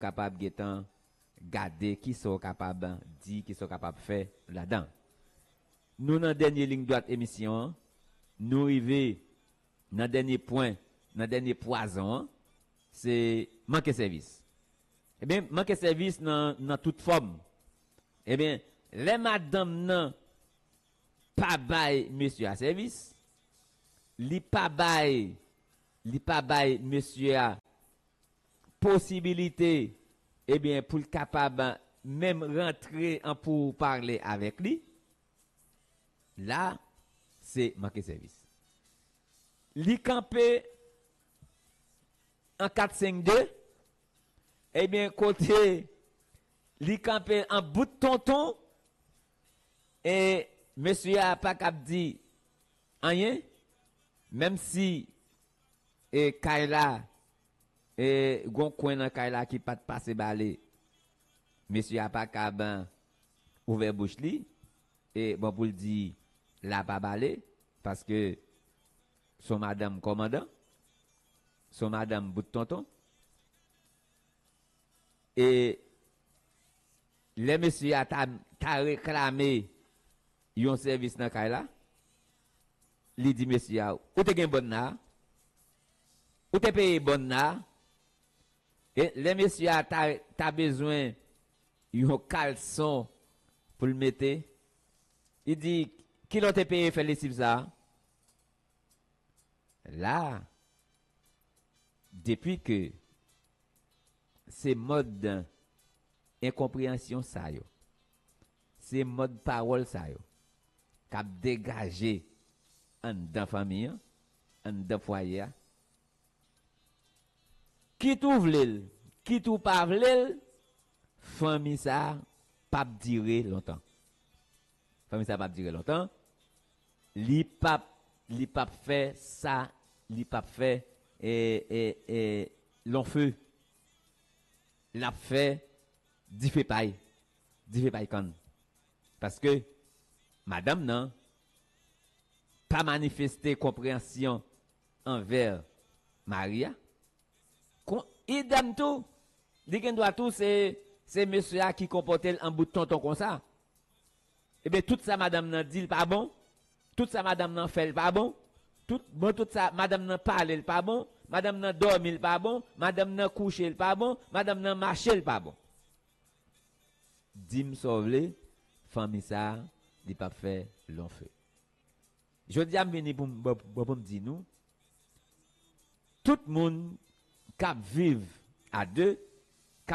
kapab gentan gade kisa w kapab di, kisa w kapab fè ladan. Nou nan dènye liy dwat emisyon an, nou rive nan dènye pwen, nan dènye pwazon an, se manke sèvis. Ebyen, manke sèvis nan tout fòm. Ebyen, lè madanm nan pa bay mesye a sèvis, li pa bay Li pa bay mesye a posibilite ebyen pou l kapab menm rantre an pou pale avèk li. La se manke sèvis. Li kanpe an 4 5 2 ebyen kote li kanpe an bout tonton e mesye a pa kab di Anyen menm si e kay la e gon kwen nan kay la ki pat pase bale mesye a pa kab ouvè bouch li e bon poul di la pa bale paske son madanm kòmandan son madanm bout tonton e lè mesye a ta ta reklame Yon sèvis nan kay la, li di mesye a, Ou te gen bòn nan a? Ou te peye bòn nan a? E lè mesye a ta ta bezwen yon kalson pou l mete, li di, Ki lè w te peye fè lesiv sa a? La, depi ke se mòd enkonpreyansyon sa yo Se mòd pawòl sa yo k ap degaje anndan fanmi an, anndan fwaye a. Kit ou vle l, kit ou pa vle l, fanmi sa a p ap dire lontan. Fanmi sa a p ap dire lontan, li p ap, li p ap fè sa, li p ap fè e, e, e lonfe, l ap fè dife pay. Dife pay kann. Paske madanm nan pa manifeste konpreyansyon anvè mari a. Kon idem tou, li gen dwa tou se se mesye a ki konpòte l an bout tonton konsa. Ebyen tout sa madanm nan di l pa bon, tout sa madanm nan fè l pa bon, tout bon tout sa madanm nan pale l pa bon, madanm nan dòmi l pa bon, madanm nan kouche l pa bon, madanm nan mache l pa bon. Dim sa w vle fanmi sa li pap fè long feu. Jodia m vini pou m pou m di nou tout moun kap viv a deux